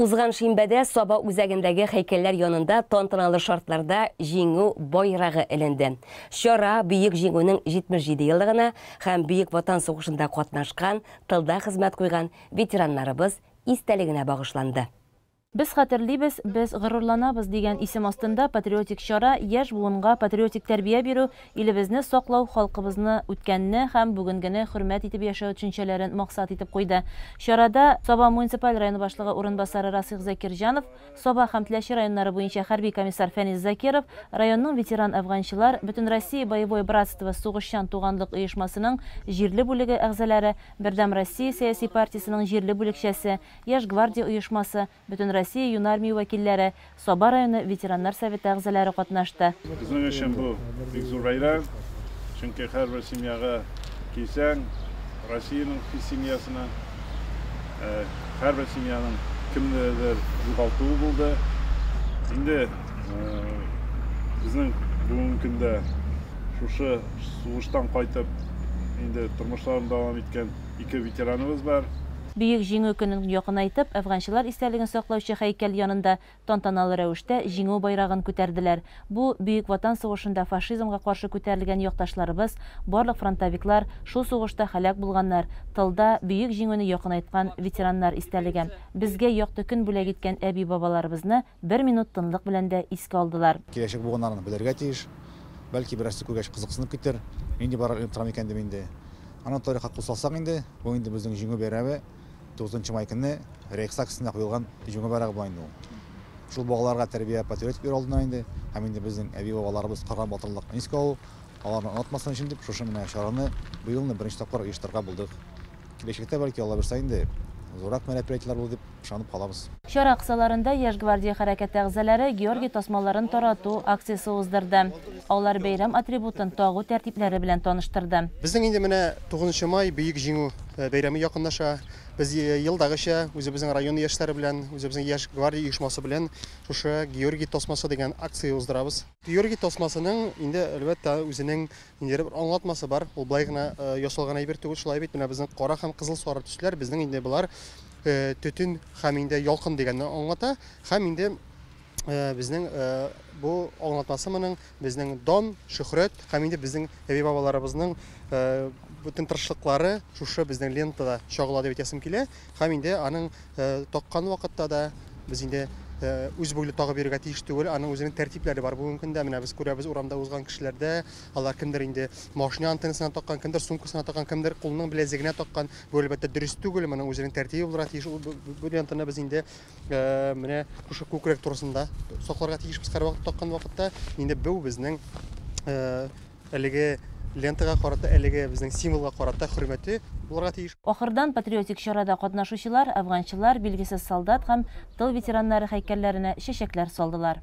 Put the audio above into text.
Узган шимбәдә Саба үзәгендәге хәйкәлләр янында тантаналы шартларда җиңү байрагы эленде. Чара Бөек җиңүнең 77 еллыгына һәм Бөек Ватан сугышында катнашкан тылда хезмәт куйган ветераннарыбыз истәлегенә багышланды. Без хәтерлибез, без горурланабыз дигән исем астында патриотик чара яшь буынга патриотик тәрбия бирү, илебезне саклау, халкыбызны, үткәнне һәм бүгенгене хөрмәт итеп яшәү төшенчәләрен максат итеп куйды. Чарада Саба муниципаль районы башлыгы урынбасары Расыйх Закирҗанов, Саба һәм Теләче районнары буенча хәрби комиссар Фәнис Закиров районның ветеран әфганчылар, Бөтенроссия боевое братство сугышчан туганлык оешмасының җирле бүлеге әгъзалары, Бердәм Россия сәяси партиясенең җирле бүлекчәсе, Яшь гвардия оешмасы, Бөтенроссия юнармия вәкилләре, Саба районы ветераннар советы әгъзалары катнашты. Безнең өчен бу бик зур бәйрәм, чөнки һәрбер семьяга килсәң, Россиянең семьясына, э, һәр бер семьяның кемнедер югалтуы булды. Инде э, безнең бүгенге көндә шушы сугыштан кайтып, инде тормышларын дәвам иткән ике ветераныбыз бар. Бөек Җиңү көнен якынайтып, әфганчылар истәлеген саклаучы һәйкәл янында Тантаналы рәвештә Җиңү байрагын күтәрделәр. Бу, Бөек Ватан сугышында фашизмга каршы күтәрелгән якташларыбыз, барлык фронтовиклар, шул сугышта һәлак булганнар, тылда Бөек Җиңүне якынайткан ветераннар истәлеге. Безгә якты көн бүләк иткән әби-бабаларыбызны бер минут тынлык белән дә искә алдылар. Киләчәк буыннарның белергә тиеш. Бәлки, берәрсе күргәч кызыксынып китер, нинди байрак эленеп тора микән дип инде. Аның тарихка кул салсак инде, бу инде безнең Җиңү бәйрәме. Тугызынчы май көнне Рейхстаг өстенә куелган җиңү байрагы була инде ул. Шул балаларга тәрбия, патриотик өйрәтү алдыннан инде һәм инде безнең әби-бабаларыбыз кылган батырлыкны искә алу, аларны онытмасын өчен дип шушы менә чараны быел инде беренче тапкыр оештырырга булдык. Киләчәктә, бәлки, Алла бирса инде, зуррак мероприятиеләр булыр дип ышанып калабыз. Чара кысаларында Яшь гвардия хәрәкәте әгъзалары Георгий тасмаларын тарату акциясе уздырды. Алар бәйрәм атрибутын тагу тәртипләре белән таныштырды. Безнең инде менә Тугызынчы май, Бөек Җиңү. Э, бәйрәме якынлаша. Без э, елдагыча үзебезнең район яшьләре белән, үзебезнең яшь гвардия оешмасы белән шушы Георгий тосмасы дигән акция уздырабыз. Георгий тосмасының инде әлбәттә үзенең инде бер аңлатмасы бар. Ул былай гына э, ясалган әйбер түгел, шулай бит. Менә безнең кара һәм кызыл сары төсләр безнең инде болар төтен һәм инде ялкын дигәнне аңлата һәм инде Э, безнең э, бу аңлатмасы моның безнең дон шөхрәт һәм инде безнең әби бабаларыбызның э, бөтен тырышлыклары шушы безнең лентада чагыла дип әйтәсем килә һәм инде аның таккан вакытта да без инде үз буйлы тагып йөрергә тиеш түгел аның үзенең тәртипләре бар бүгенге көндә менә без күрәбез урамда узган кешеләрдә алар кемдер инде машина антеннасына таккан кемдер сумкасына таккан кемдер кулының беләзегенә таккан бу әлбәттә дөрес түгел моның үзенең тәртибе булырга тиеш бу лентаны без инде Э, менә шушы күкрәк турысында сакларга тиешбез һәрвакыт таккан вакытта инде бу безнең э, әлеге лентага карата әлеге безнең символга карата хөрмәте булырга тиеш Ахырдан патриотик чарада катнашучылар афганчылар, билгесез солдат һәм тыл ветераннары һәйкәлләренә чәчәкләр салдылар.